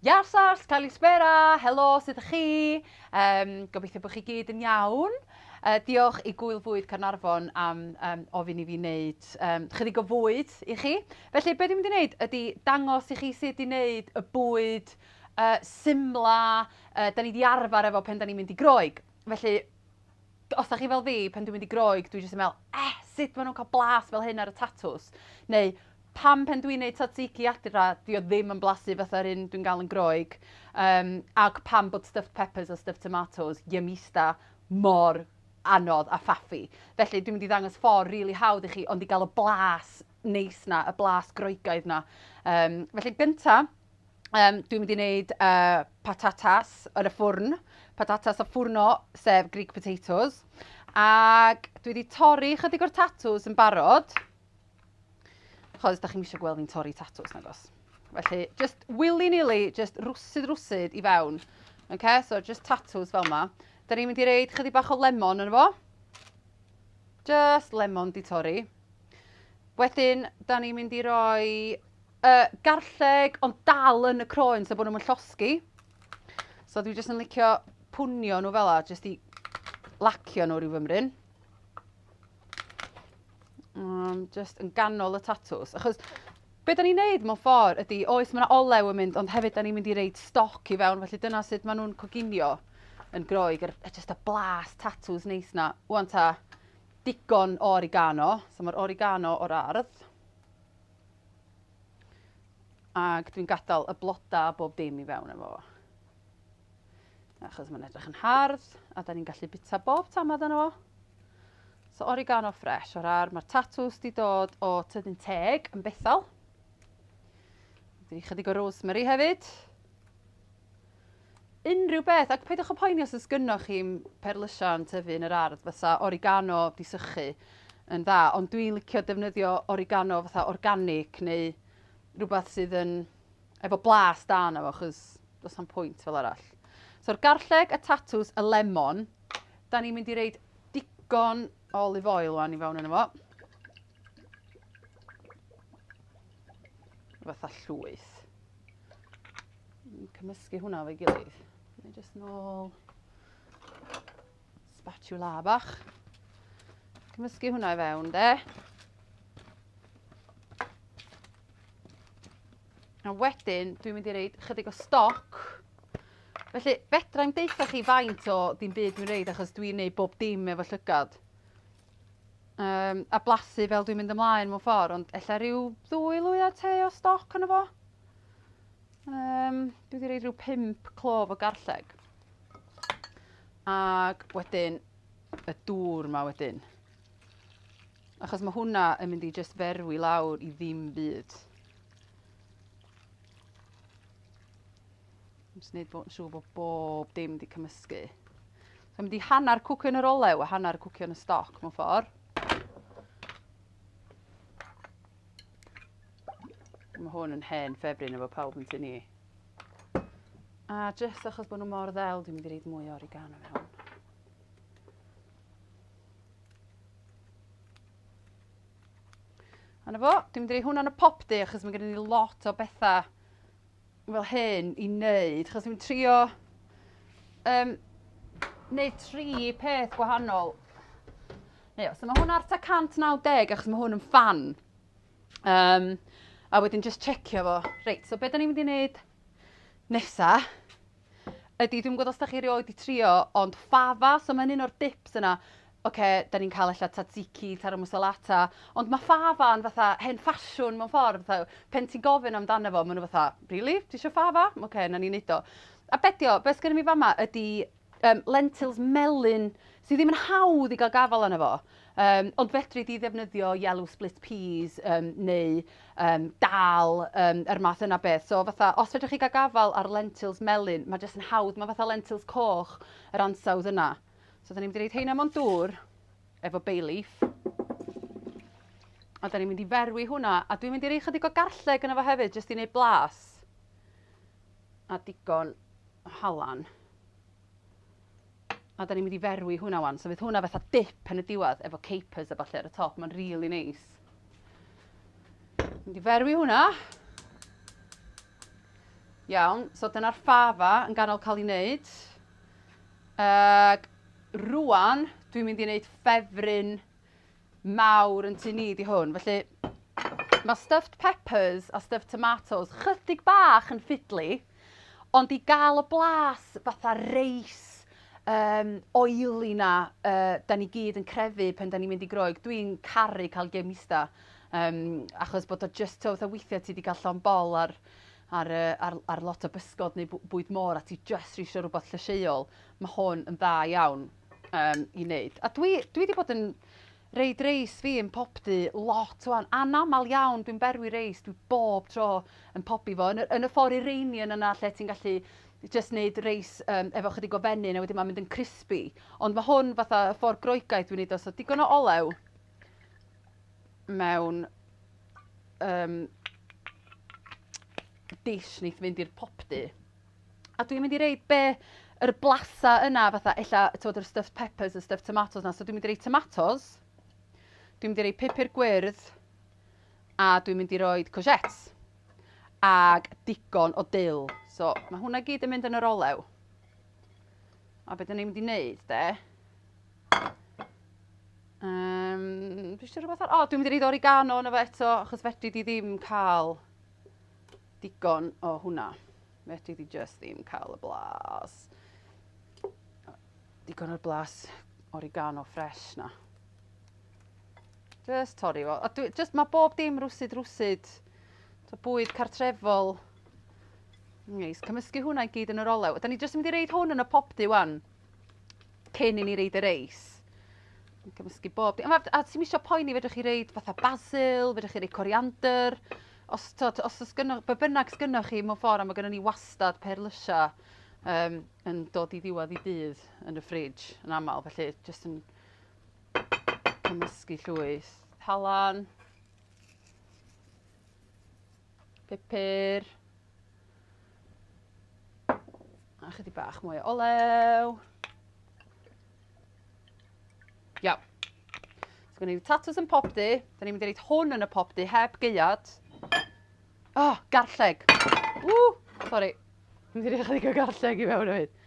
Iaw Sars, Kalispera, helo, sut ydych chi? Um, gobeithio bod chi gyd yn iawn. Uh, diolch i Gwyl Fwyd Carnarfon am um, ofyn i fi wneud um, chydig o fwyd i chi. Felly, beth dwi'n mynd i wneud ydy dangos i chi sut i wneud y bwyd uh, simla uh, da ni wedi arfer efo pen da ni'n mynd i groeg. Felly, os da chi fel fi, pan dwi'n mynd i Groeg, dwi jyst yn meddwl, eh, sut maen nhw'n cael blas fel hyn ar y tatws? Neu, pam pen dwi'n neud tzatziki adra, di o ddim yn blasu fatha'r un dwi'n gael yn Groeg? Um, ac pam bod stuffed peppers a stuffed tomatoes, yumista, mor anodd a ffaffi. Felly, dwi'n mynd i ddangos ffordd rili really hawdd i chi, ond i gael y blas neis na, y blas groegaidd na. Um, felly, gyntaf, um, dwi'n mynd i wneud uh, patatas yn y ffwrn, patatas a ffwrno, sef Greek potatoes. Ac dwi wedi torri chydig o'r tatws yn barod. Chos, da chi'n eisiau gweld fi'n torri tatws, nag os. Felly, just willy-nilly, just rwsyd rwsyd i fewn. Okay? So, just tatws fel yma. Da ni'n mynd i reid chydig bach o lemon yn efo. Just lemon di torri. Wedyn, da ni'n mynd i roi Y garlleg ond dal yn y croen so bod nhw'n llosgi. So dwi jyst yn licio pwnio nhw fel la, jyst i lacio nhw rhyw fymryn. Um, jyst yn ganol y tatws. Achos Be da ni'n neud mewn ffordd ydy, oes mae yna olew yn mynd, ond hefyd da ni'n mynd i reid stoc i fewn, felly dyna sut maen nhw'n coginio yn groeg, er, just y blas tatws neis na. Wan ta, digon o origano, so mae'r origano o'r ardd. Ac dwi'n gadael y blodau a bob dim i fewn efo fo. Achos mae'n edrych yn hardd a da ni'n gallu bita bob tamad yna fo. So oregano ffres o'r ar. Mae'r tatws di dod o tyddyn teg yn bethol. Dwi'n chydig o rosemary hefyd. Unrhyw beth, ac peidiwch â phoeni os oes gynnoch chi'm perlysiau yn tyfu yn yr ardd, fysa origano di sychu yn dda, ond dwi'n licio defnyddio origano fatha organic neu rhywbeth sydd yn efo blas da yna fo, chos does am pwynt fel arall. So'r garlleg, y tatws, y lemon, da ni'n mynd i reid digon o olive oil wan i fewn yna fo. Fatha llwyth. cymysgu hwnna o'i gilydd. Ni jyst nôl spatula bach. Cymysgu hwnna i fewn de. A wedyn, dwi'n mynd i reid chydig o stoc. Felly, fedra i'n deitha chi faint o dim byd dwi'n reid achos dwi'n neud bob dim efo llygad. um, a blasu fel dwi'n mynd ymlaen mewn ffordd, ond efallai rhyw ddwy lwyau te o stoc yna fo. Um, dwi wedi reid rhyw pimp clof o garlleg. Ac wedyn, y dŵr yma wedyn. Achos mae hwnna yn mynd i just ferwi lawr i ddim byd. Dwi'n gwneud bod yn siŵr bod bob dim wedi cymysgu. So mynd i hanner cwcio yn yr olew a hanner cwcio yn y stoc mewn ffordd. Mae hwn yn hen ffefryn efo pawb yn tyn ni. A jyst achos bod nhw mor ddel, dwi'n mynd i reid mwy o oregano mewn. A na fo, dwi'n mynd i reid hwnna'n y popdy achos mae gen i lot o bethau fel hyn i wneud, chos dwi'n trio um, wneud tri peth gwahanol. Neu, so mae hwn ar ta 190 achos mae hwn yn fan. Um, a wedyn just checio fo. Reit, so beth da ni'n mynd i wneud nesa? Ydi, dwi'm yn gwybod os da chi erioed wedi trio, ond fava, so mae'n un o'r dips yna. Ocê, da ni'n cael ella tzatziki, taro musalata, ond mae fava yn fatha hen ffasiwn mewn ffordd, fatha pen ti'n gofyn amdano fo, maen nhw fatha, rili? Ti eisiau fava? Ocê, na ni'n neud o. A be di o? Be sgynno fi fama ydi um, lentils melyn sydd ddim yn hawdd i gael gafal arno fo. Yym, ond fedri di ddefnyddio yellow split peas yym neu yym dal yym yr math yna beth. So fatha os fedrwch chi gael gafael ar lentils melyn, mae jyst yn hawdd, mae fatha lentils coch yr ansawdd yna. So da ni'n mynd i roid heina mewn dŵr efo bay leaf. A da ni'n mynd i ferwi hwnna, a dwi'n mynd i roi chydig o garlleg yna fo hefyd jyst i wneud blas a digon o halan. A da ni'n mynd i ferwi hwnna wan. So fydd hwnna fatha dip yn y diwedd efo capers a falle ar y top. Mae'n rili really neis. Mynd i ferwi hwnna. Iawn, so dyna'r ffafa yn ganol cael ei wneud. Ac rwan, dwi'n mynd i wneud ffefryn mawr yn tŷ ni 'di hwn, felly ma' stuffed peppers a stuffed tomatoes chydig bach yn ffidli, ond i gael y blas fatha reis um, oily 'na uh, da ni gyd yn crefu pen da ni'n mynd i Groeg, dwi'n caru cael gemista, um, achos bod o just to, fatha weithiau ti wedi cael llon bol ar ar, uh, ar, ar lot o bysgod neu bwyd môr a ti just rhisio rhywbeth llysieuol, mae hwn yn dda iawn. Yym i neud. A dwi dwi di bod yn reid reis fi yn pob du lot wan. Anamal iawn dwi'n berwi reis dwi bob tro yn pobi fo yn y yn y ffor Iranian yna lle ti'n gallu jyst neud reis yym efo chydig o fenyn a wedyn ma'n mynd yn crispi. Ond ma' hwn fatha y ffor Groegaidd dwi'n neud o so digon o olew mewn yym dish neith fynd i'r popdu. A dwi'n mynd i reid be yr blasa yna fatha ella t'od yr stuffed peppers y stuffed tomatoes 'na so dwi'n mynd i roi tomatos. Dwi'n mynd i roi pupur gwyrdd a dwi'n mynd i roi courgettes ag digon o dill. So mae hwnna gyd yn mynd yn yr olew. A beth dyn ni'n mynd i wneud de? Um, dwi eisiau rhywbeth ar... O, dwi'n mynd i reid oregano yna fe eto, achos fedri di ddim cael Digon o hwnna. Fedri di jyst ddim cael y blas. Digon o'r blas oregano ffres na. Jyst torri fo. A dwi, just, mae bob dim rwsyd rwsyd. So bwyd cartrefol. Neis. Cymysgu hwnna i gyd yn yr olew. Da ni jyst yn mynd i reid hwn yn y popdy wan. Cyn i ni reid y reis. Cymysgu bob dim. A, a ti'n misio poeni, fedrwch chi reid fatha basil, fedrwch chi reid coriander. Os t'od os o's gynno- be' bynnag sgynnoch chi mewn ffor a ma' gynnon ni wastad perlysia yym yn dod i ddiwadd 'i dydd yn y ffrij yn amal felly jyst yn cymysgu llwyth halan, pupur, a chydig bach mwy o olew. Iaw. So gwneud y tatws yn pob du. Da ni'n mynd i reid hwn yn y pob du heb geiad. O, oh, garlleg. Ww, sori. Dwi'n mynd i reid o garlleg i fewn o hyd.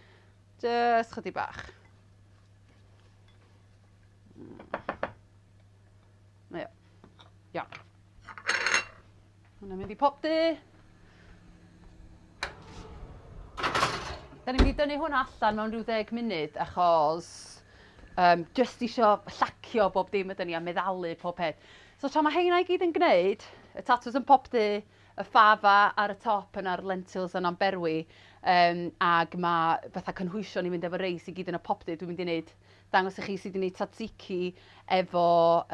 Just chydig bach. Hmm. Iawn. Hwna'n mynd i pop du. Da ni'n mynd i dynnu hwnna allan mewn rhyw ddeg munud achos um, just isio llacio bob dim ydyn ni a meddalu pob peth. So tra mae heina i gyd yn gwneud, y tatws yn pop du, y ffafa ar y top yn ar lentils yn amberwi, um, ac mae fatha cynhwysion ni'n mynd efo reis i gyd yn y pop du, dwi'n mynd i wneud dangos i chi sydd wedi gwneud tzatziki efo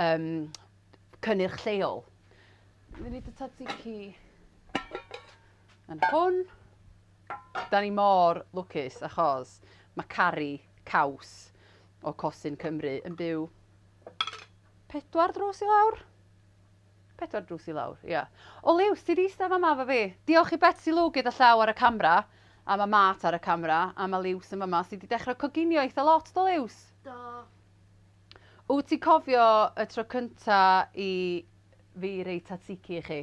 um, cynnyrch lleol. Dwi'n mynd i dy tzatziki yn hwn. Da ni mor lwcus achos mae Cari Caws o Cosin Cymru yn byw pedwar drws i lawr. Pedwar drws i lawr, ia. O Liw, ti di eistedd yma fo fi. Diolch i Betsy Lw gyda llaw ar y camera, a mae Mart ar y camera, a mae Liws yn yma. Ti di dechrau coginio eitha lot do Liws? Do. Wt ti cofio y tro cynta i fi roi tatiki i chi?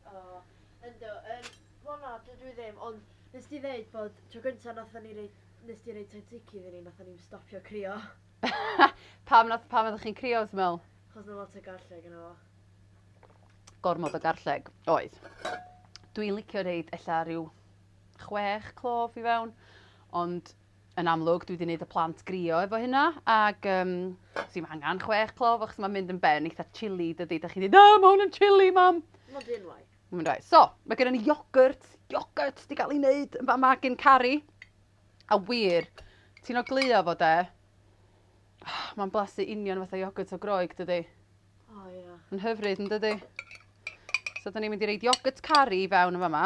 O, yndw, yn fona dydw i ddim, ond nes ti ddeud bod tro cynta nathon ni roi, nes ti roi tatiki iddyn ni nathon ni'm stopio crio. Pam nath, pam oeddech chi'n crio wt ti'n me'wl? Achos ma' lot o garlleg yno fo. Gormod o garlleg, oedd. Dwi'n licio roid ella ryw chwech clove i fewn, ond Yn amlwg dwi 'di neud y plant grio efo hynna ag yym sdim angan chwech clof achos ma'n mynd yn ben eitha chilly dydi 'dach chi ddeud na ma' hwn yn chilly mam! Ma'n fun ddoe. Ma'n fun ddoe. So ma' gynnon ni iogwrt, iogwrt 'di ga'l 'i neud yn fa'ma gin Cari a wir ti'n ogleuo fo 'de ma'n blasu union fatha iogwrt o Groeg dydi? O ia. Ma'n hyfryd yndydi? So 'dan ni'n mynd i roid iogwrt Cari i fewn yn fa'ma.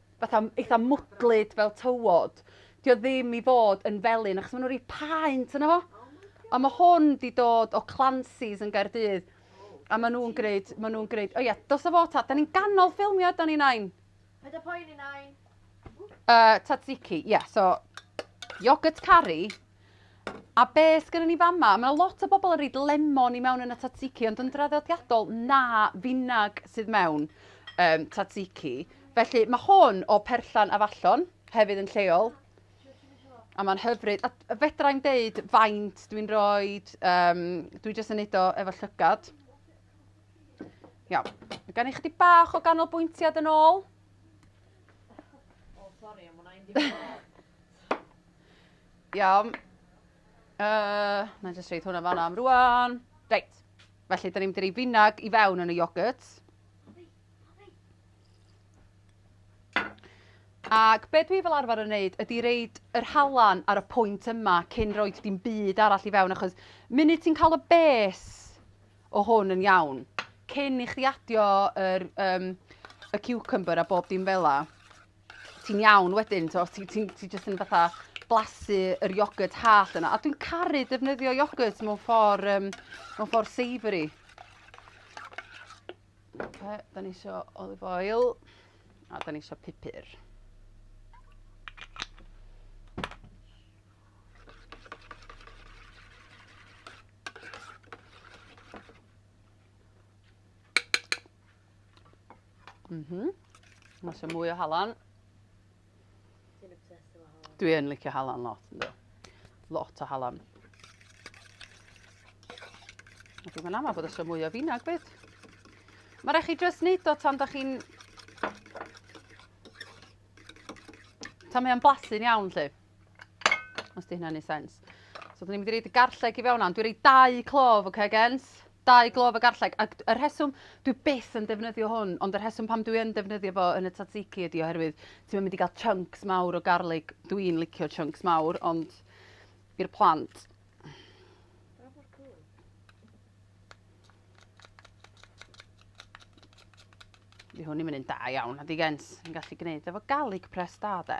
fatha eitha mwdlyd fel tywod. 'Di o ddim i fod yn felyn achos ma' 'na ryw paent yno fo. A ma' hwn 'di dod o Clancy's yn Gaerdydd a ma' nhw'n gwneud ma' nhw'n gwneud o ia dos a fo ta 'dan ni'n ganol ffilmio ydan ni Nain? Paid â poeni Nain. Yy tzatziki ia so yoghurt curry A beth sgynnon ni fama? Mae 'na lot o bobl yn rhoid lemon i mewn yn y tzatziki, ond yn draddodiadol, na, finag sydd mewn um, tzatziki. Felly mae hwn o perllan afallon, hefyd yn lleol, a mae'n hyfryd. A fedra i'n deud faint dwi'n rhoi, um, dwi jyst yn neud o efo llygad. Iawn, mae gen i chdi bach o ganolbwyntiad yn ôl. O, sori, am hwnna, Iawn. Uh, na jyst reid hwnna fanna am rwan. Reit. Felly, da ni'n mynd i rei finag i fewn yn y iogwrt. Ac be dwi fel arfer yn wneud ydy reid yr halan ar y pwynt yma cyn roi dim byd arall i fewn achos munud ti'n cael y bes o hwn yn iawn cyn i chdi adio yr, um, y cucumber a bob dim fel la. ti'n iawn wedyn, t'o' ti ti'n ti jyst yn fatha blasu yr iogwrt hallt yna. A dwi'n caru defnyddio iogwrt mewn ffordd um, mewn ffordd savoury. Okay, da ni eisiau olive oil a da ni eisiau pupur. Mm -hmm. Mae eisiau mwy o halan. Dwi'n obsessed efo halan. Dwi yn licio halan lot, ynddo. Lot o halan. A dwi'n meddwl bod eisiau mwy o finag byd. Mae rhaid chi jyst neud o tan da chi'n... Tan mae o'n blasu'n iawn, lle. Os di hynna'n ei sens. So, dyn ni'n mynd i reid y garlleg i fewn ond Dwi'n reid dau clof, oce, okay, gens? Dau glof y garlleg. Ac y rheswm, dwi byth yn defnyddio hwn, ond y rheswm pam dwi yn defnyddio fo yn y tzatziki ydi oherwydd ti'n mynd i gael chunks mawr o garlig. Dwi'n licio chunks mawr, ond i'r plant. Di hwn i'n mynd yn da iawn, a di gens. Yn gallu gwneud efo garlic press da, de.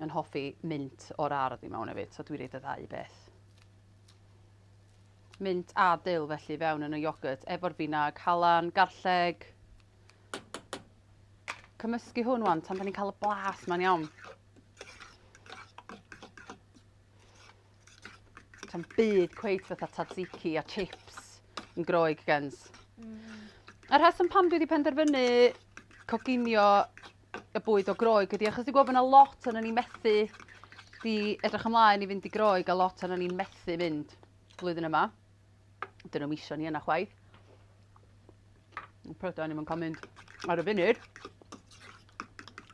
yn hoffi mynd o'r ardd i mewn hefyd, so dwi'n rhaid y ddau beth. Mynd a dil felly fewn yn y iogurt, efo'r finag, halan, garlleg. Cymysgu hwn wan, tan da ni'n cael y blas ma'n iawn. Tam byd cweith fatha tzatziki a chips yn groeg gens. Mm. A rheswm pam dwi wedi penderfynu coginio y bwyd o groeg ydy achos dwi'n gwybod bod yna lot o'n ni'n methu di edrych ymlaen i fynd i groeg a lot o'n ni'n methu mynd flwyddyn yma. Dyn nhw'n misio ni yna chwaith. Yn prydain ni'n cael mynd ar y funud.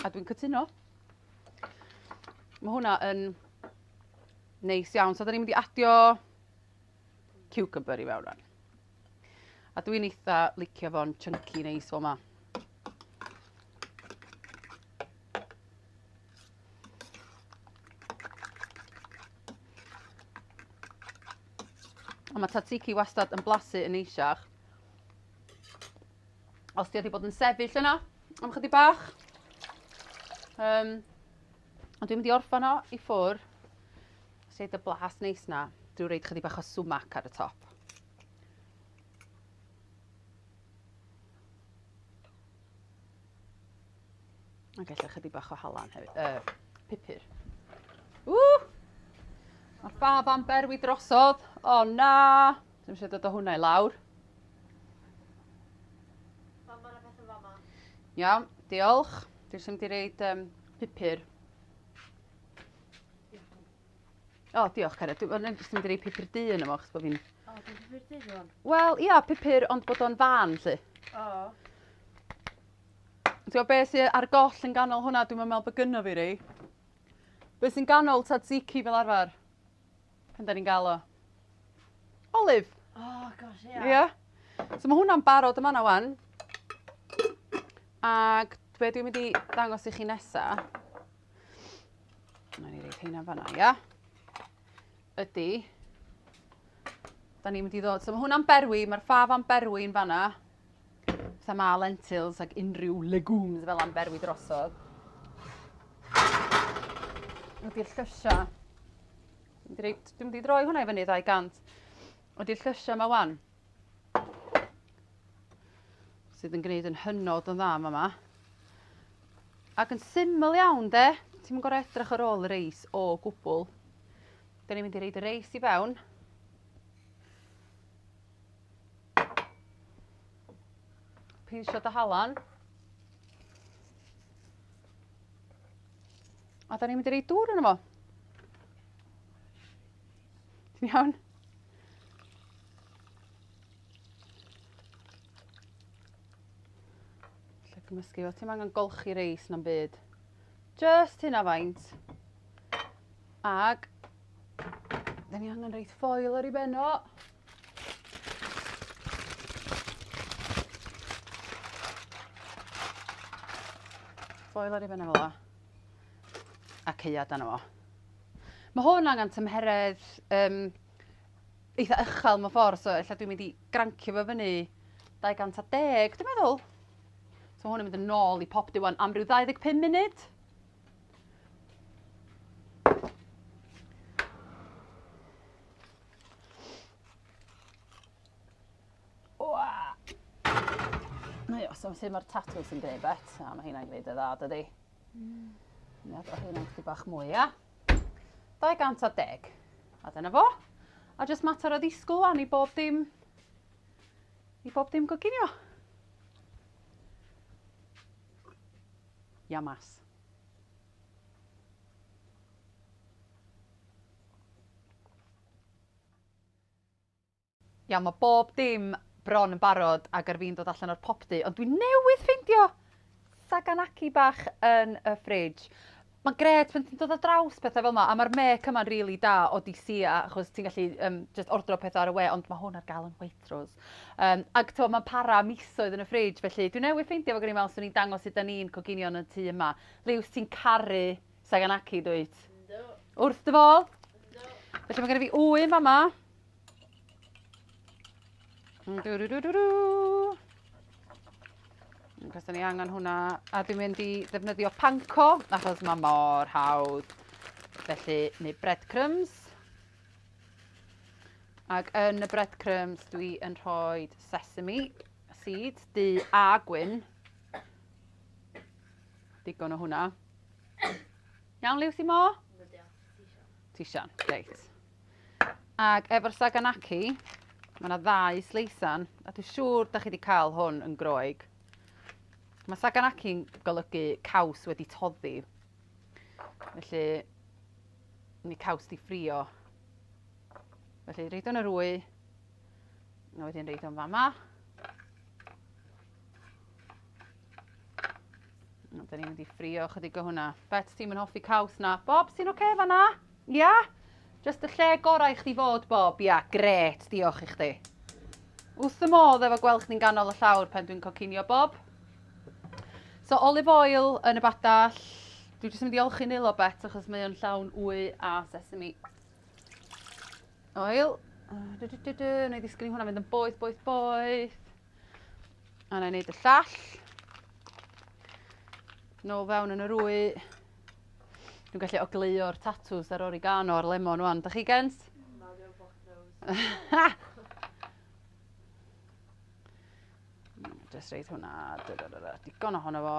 A dwi'n cytuno. Mae hwnna yn Neis iawn. So, da ni'n mynd i adio cucumber i fewn rhan. A dwi'n eitha licio fo'n chunky neis fel yma. Ond mae tzatziki wastad yn blasu yn eisiach. Os ti wedi bod yn sefyll yna am chydig bach, um, Ond dwi'n mynd i orffan o i ffwr. Sut y blas neis na. Dwi'n reid chydig bach o sumac ar y top. A gallai chydig bach o halan hefyd. Uh, pupur. Ww! Mae ffaf am berwi drosodd. O oh, na! Dwi'n eisiau dod o hwnna i lawr. Iawn, diolch. Dwi'n sy'n mynd i reid um, pupur. O, oh, diolch Cara. Dwi'n mynd i roi pupur du yn yma, chos bod fi'n... O, oh, dwi'n pupur du rwan. Wel, ia, pupur, ond bod o'n fan, lle. O. Oh. Ti'n beth sy'n ar goll yn ganol hwnna, dwi'n meddwl bod gynno fi rei. Beth sy'n ganol tzatziki fel arfer? Pan da ni'n gael o. Olive! Oh, gosh, ia. Yeah. Yeah. So mae hwnna'n barod yma na wan. Ac be dwi'n mynd i ddangos i chi nesa, na ni reid heina fanna, ia, ydy, da ni'n mynd i ddod, so mae hwnna'n berwi, mae'r ffaf am berwi yn fanna, Fatha ma' lentils ac unrhyw legumes fel 'a'n berwi drosodd. Ydy'r llysia... Dwi mynd i droi hwnna i fyny 200. Ydy'r llysia yma wan. Sydd yn gwneud yn hynod yn dda yma. Ac yn syml iawn de. Ti'n mynd gorau edrych ar ôl y reis o gwbl. Da ni'n mynd i reid y reis i fewn. Pinsio dy halan. A da ni'n mynd i roi dŵr yna fo. Ti'n iawn? Lle gymysgu fo. Ti'n angen golchi reis na'n byd. Just hynna faint. Ag, da ni angen reit ffoil ar ei ben o. Foel ar ei ben fel yma. A ceuad dan yma. Mae hwn angen tymheredd um, eitha uchel mewn ffordd, so efallai dwi'n mynd i grancio fo fyny 210, dwi'n meddwl. So hwn yn mynd yn ôl i pop diwan am ryw 25 munud. Mae os am sy'n mae'r tatws yn gwneud bet, a mae hynna'n gwneud y dda, dydy. Mm. Nid o hynna'n chdi bach mwy, ia? 210. A dyna fo. A jyst mater o ddisgwyl wan i bob dim... i bob dim goginio. Iamas. Iawn ma' bob dim bron yn barod ag ar fin dod allan o'r popty ond dwi newydd ffeindio Saganaki bach yn y fridge. Ma'n grêt pan ti'n dod ar draws pethe fel 'ma a ma'r mêc yma'n rili da o DCA achos ti'n gallu yym jyst ordro petha ar y we ond ma' hwn ar ga'l yn Waitrose. Yym ag t'mo' ma'n para misoedd yn y fridge felly dwi newydd ffeindio fo gen i me'wl swn i'n dangos sud 'dan ni'n coginio yn y tŷ yma. Liws ti'n caru Saganaki dwyt? Ynddo. Wrth dy fol? Ynddo. Felly mae gen i fi ŵyn fa ma. Mm, dw dw dw dw dw. Cos ni angen hwnna. A dwi'n mynd i ddefnyddio panco, achos mae mor hawdd. Felly, neu breadcrumbs. Ac yn y breadcrumbs dwi yn rhoi sesame seeds, du a gwyn. Digon o hwnna. Iawn, Liw, ti mo? Ti sian, reit. Ac efo'r Saganaki, mae yna ddau sleisan, a dwi'n siŵr da chi wedi cael hwn yn groeg. Mae Saganaki'n golygu caws wedi toddi. Felly, ni caws di ffrio. Felly, reid o'n yr wy, a wedyn reid o'n fama. O, da ni'n mynd i ffrio chydig o hwnna. Bet ti'n mynd hoffi caws na. Bob, sy'n oce okay fanna? Ia? Yeah? Just y lle gorau i chdi fod, Bob. Ia, yeah, gret, diolch i chdi. Wth y modd efo gweld chdi'n ganol y llawr pen dwi'n cocinio, Bob. So, olive oil yn y badall. Dwi'n jyst yn mynd i olchi nilo bet achos mae o'n llawn wy a sesame. Oil. Du, du, du, du. Wna i ddisgyn i hwnna fynd yn boeth, boeth, boeth. A na i wneud y llall. Nôl fewn yn yr wy. Dwi'n gallu ogleuo'r tatws ar oregano a'r lemon wan. Da chi gens? Na, dwi'n block nose. Just reid hwnna. Digon ohono fo.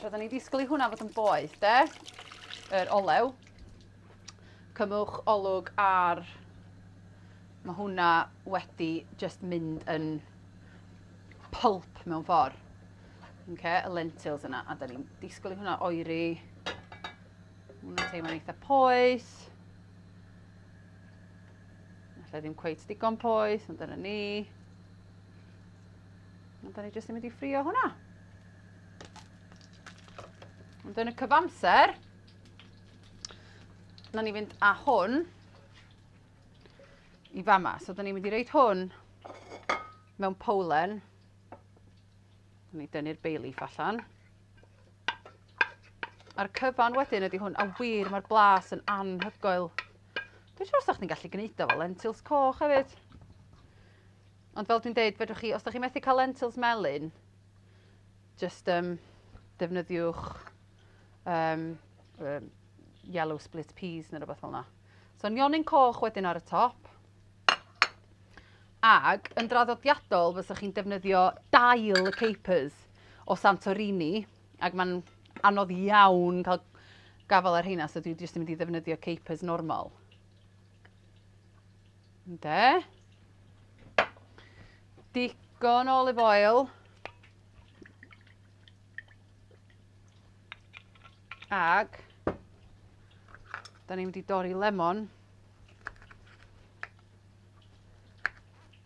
Roedden ni'n disgwyl i hwnna fod yn boeth, de? Yr olew. Cymwch olwg ar... Mae hwnna wedi just mynd yn pulp mewn ffordd. Okay, y lentils yna. A da ni'n disgwyl i hwnna oeri. Hwna'n teimlo'n eitha poeth. Alla ddim cweith digon poeth, ond dyna ni. Ond da ni jyst yn mynd i ffrio hwnna. Ond yn y cyfamser, na ni fynd â hwn i fama. So, da ni'n mynd i reid hwn mewn powlen. Da ni dynnu'r bay leaf allan. A'r cyfan wedyn ydy hwn, a wir mae'r blas yn anhygoel. Dwi'n siŵr sa'ch ni'n gallu gwneud o fel lentils coch hefyd. Ond fel dwi'n deud, fedrwch chi, os da chi methu cael lentils melyn, jyst um, defnyddiwch um, um, yellow split peas neu rhywbeth fel yna. So nionyn coch wedyn ar y top. Ag yn draddodiadol fysa chi'n defnyddio dail y capers o Santorini ac mae'n anodd iawn cael gafael ar heina so dwi jyst yn mynd i ddefnyddio capers normal. Ynde? Digon o olive oil. Ag, da ni'n mynd i dorri lemon.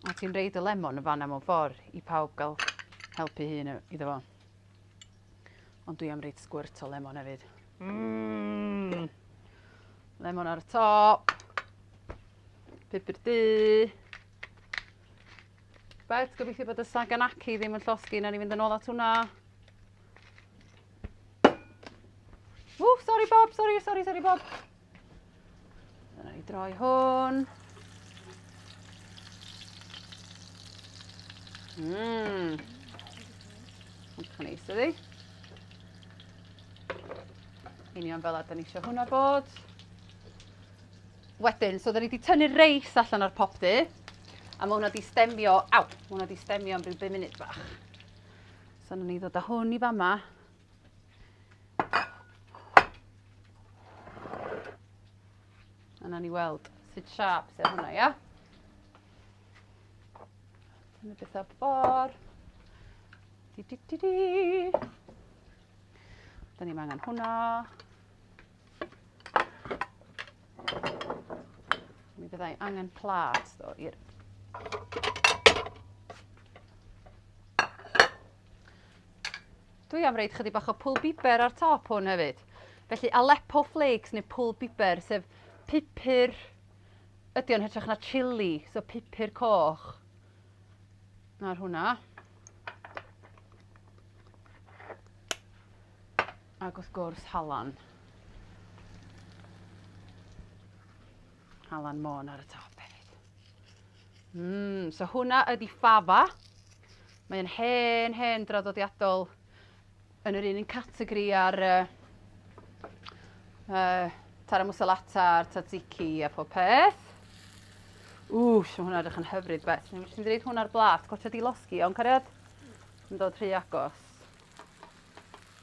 A ti'n reid y lemon yn fanna mewn ffordd i pawb gael helpu hun iddo fo. Ond dwi am reid sgwrt o lemon hefyd. Mmm! Lemon ar y top. Pupur du. Bet, gobeithio bod y Saganaki ddim yn llosgi na ni fynd yn ôl at hwnna. Ww, sorry Bob, sorry, sorry, sorry Bob. Dyna i droi hwn. Mmm. Mae'n cael neis ydi. Union fel a da ni eisiau hwnna bod. Wedyn, so da ni wedi tynnu'r reis allan o'r popty. A mae hwnna wedi stemio, aw, mae hwnna wedi stemio am rhyw 5 munud bach. So na ni ddod â hwn i fama. Yna ni weld sut siap sy'n hwnna, ia? Dyna beth o'r ffordd. Di, di, di, di. Da ni'n angen hwnna. Mi fyddai angen plat ddo i'r... Dwi am reid chydig bach o pwl biber ar top hwn hefyd. Felly Aleppo flakes neu pwl biber, sef pupur, ydy o'n hytrach na chili, so pupur coch. Nawr hwnna. Ac wrth gwrs halan. Alan Môn ar y top hefyd. Mm, so hwnna ydi Fava. Mae'n hen, hen draddodiadol yn yr un yn categori ar uh, uh, Tara Musalata a'r Tzatziki a phob peth. Ww, sy'n hwnna edrych yn hyfryd beth. Ni'n mynd i hwnna'r blat, gwaetha di losgi, iawn cariad? Yn dod rhy agos.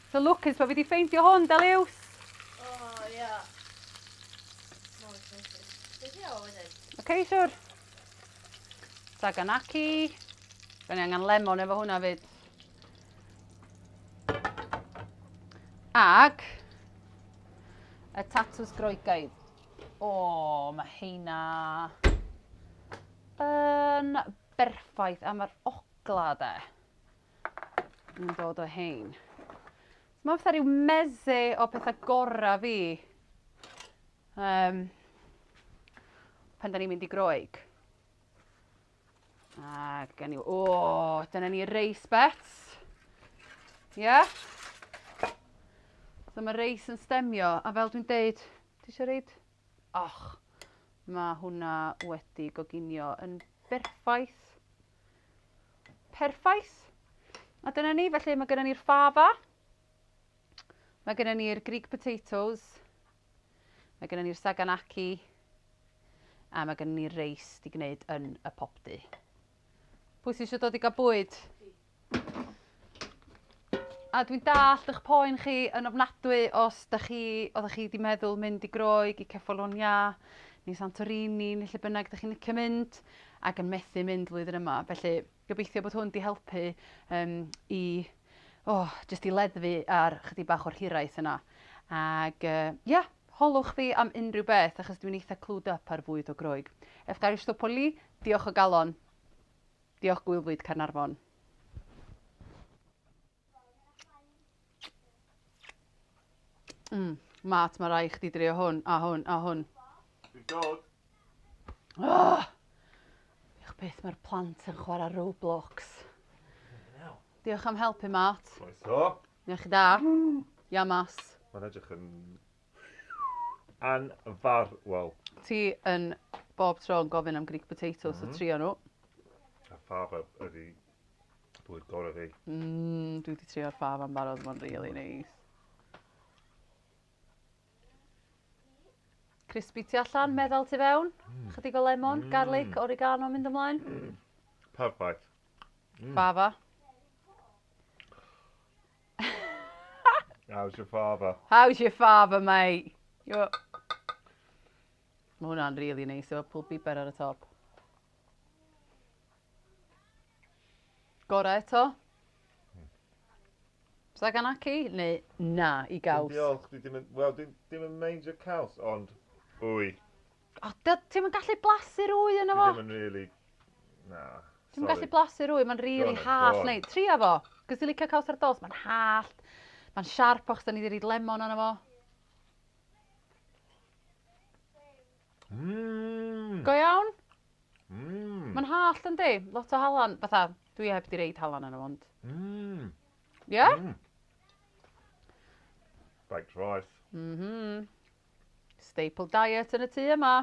So lwcus bo fi di ffeindio hwn, da liws! O, ia. Mor excited. Be di o wedyn? Ok, siwr. Saganaki. Da ni angen lemon efo hwnna fyd. Ac y tatws groegaidd. O, mae heina yn berffaith am yr ogla de. Yn dod o hein. Mae fatha rhyw meze o pethau gorau fi. Um, pan da ni'n mynd i groeg. A gen i... O, dyna ni reis bets. Ie? Yeah? So mae reis yn stemio, a fel dwi'n deud, ti eisiau reid? Och, mae hwnna wedi goginio yn berffaith. Perffaith. A dyna ni, felly mae gennym ni'r fava. Mae gennym ni'r Greek potatoes. Mae gennym ni'r saganaki. A mae gennym ni'r reis di gwneud yn y popdy. Pwy sy'n eisiau dod i gael bwyd? A dwi'n dallt ych poen chi yn ofnadwy os da chi, oeddech chi wedi meddwl mynd i Groeg, i Cefalonia, neu Santorini, neu lle bynnag da chi'n licio mynd, ac yn methu mynd flwyddyn yma. Felly, gobeithio bod hwn di helpu um, i, oh, jyst i leddfu ar chydig bach o'r hiraeth yna. Ac, uh, yeah, holwch fi am unrhyw beth, achos dwi'n eitha clued up ar fwyd o Groeg. Efgaristopoli, diolch o galon. Diolch Gwylfwyd Caernarfon. Mm, Matt, mae rai chdi drio hwn, a hwn, a hwn. Dwi'n dod. Oh! Diolch beth mae'r plant yn chwarae Roblox. Diolch am helpu, Matt. Croeso. Diolch chi da. Iamas. Mae'n edrych yn Ann far, wel. Ti yn bob tro yn gofyn am Greek potatoes so trio nhw. A fab ydi bwyd gorau fi. Mmm, dwi wedi trio'r fab am barod, mae'n really neis. Crispy tu allan, meddal tu fewn. Chydig o lemon, garlic, oregano mynd ymlaen. Perffaith. Fava. How's your father? How's your father, mate? Yo. Mae hwnna'n really neis efo pwl biber ar y top. Gorau eto? Sa gan aci? Neu na i gaws? Diolch, dwi ddim yn... Wel, dwi ddim yn meindio caws, ond... Wy. O, dy- ti'm yn gallu blasu'r ŵy yno Dwi fo. ddim yn really... Na, Ti'm yn gallu sori. blasu'r ŵy, mae'n Go rili on then, go hallt on. neu... Tria fo, cos ti'n licio cowsard dolls, mae'n hallt, mae'n siarp achos 'da ni 'di roid lemon arno fo. Mmm! Go iawn? Mmm! Mae'n hallt yndi? Lot o halan, fatha, dwi heb 'di roid halan arno fo ond... Mmm! Ie? Mmm! Baked rice. Mhm. Staple diet yn y tŷ yma.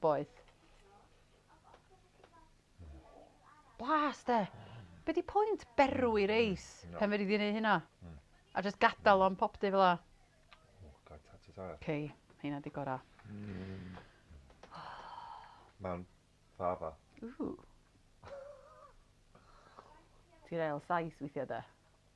Boeth. Blas de. Be di pwynt berw i reis no. pen fyddi di wneud hynna? Mm. A just gadael o'n pop di fel la. Oh, god, ta ti tair. Cei, hynna di gora. Mm. Mae'n ffafa. Ooh. Ti'n real saith weithiau da.